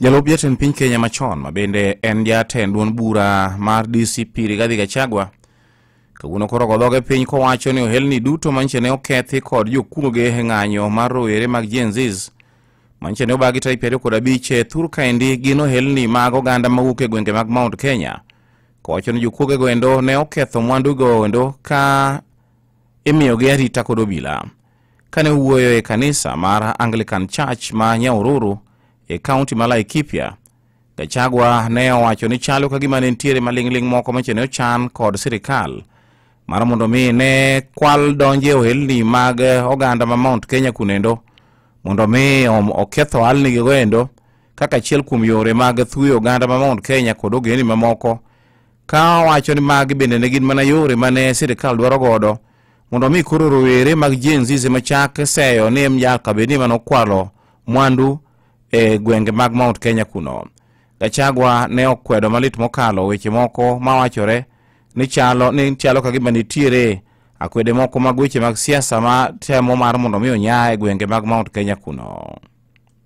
Jalup jatend piny Kenya machon ma bende en jatend duond bura mar DCP Rigathi Gachagua kawuono koro godhoge piny kowacho ni ohelni duto manche ne okethi kod jokuoge e ng'anyo mar rowere mag Gen Zs manche ne obagi tarik piero kod abich e thur kaendi gin ohelni mag oganda mawuok e gwenge mag Mount Kenya kowacho ni jokuogego endo ne oketho mwandugo endo ka imiyogi arita kod obila. Kane owuoyo e kanisa mar Anglican Church ma Nyaururu e kaunti ma Laikipia, Gachagua ne owacho ni chalo ka gima ne nitiere maling'ling' moko mache ne ochan kod sirikal mar mondo mi ne kwal donje e ohelni mag oganda ma Mount Kenya kunendo mondo mi oketh ohalnigigo endo kaka achiel kuom yore mag thuyo oganda ma Mount Kenya kod ogendni mamoko ka wacho ni magi bende ne gin mana yore mane sirikal dwaro godo mondo omi koro rowere mag Gen Z ema chak seyo ni nyaka bed ni mane okwalo mwandu e gwenge mag Mount Kenya kuno. Gachagua ne okwedo malit mokalo weche moko mawachore ni chalo ni chalo ka gima nitiere akwede moko mag weche mag siasa ma temo mar mondo omi onya e gwenge mag Mount Kenya kuno.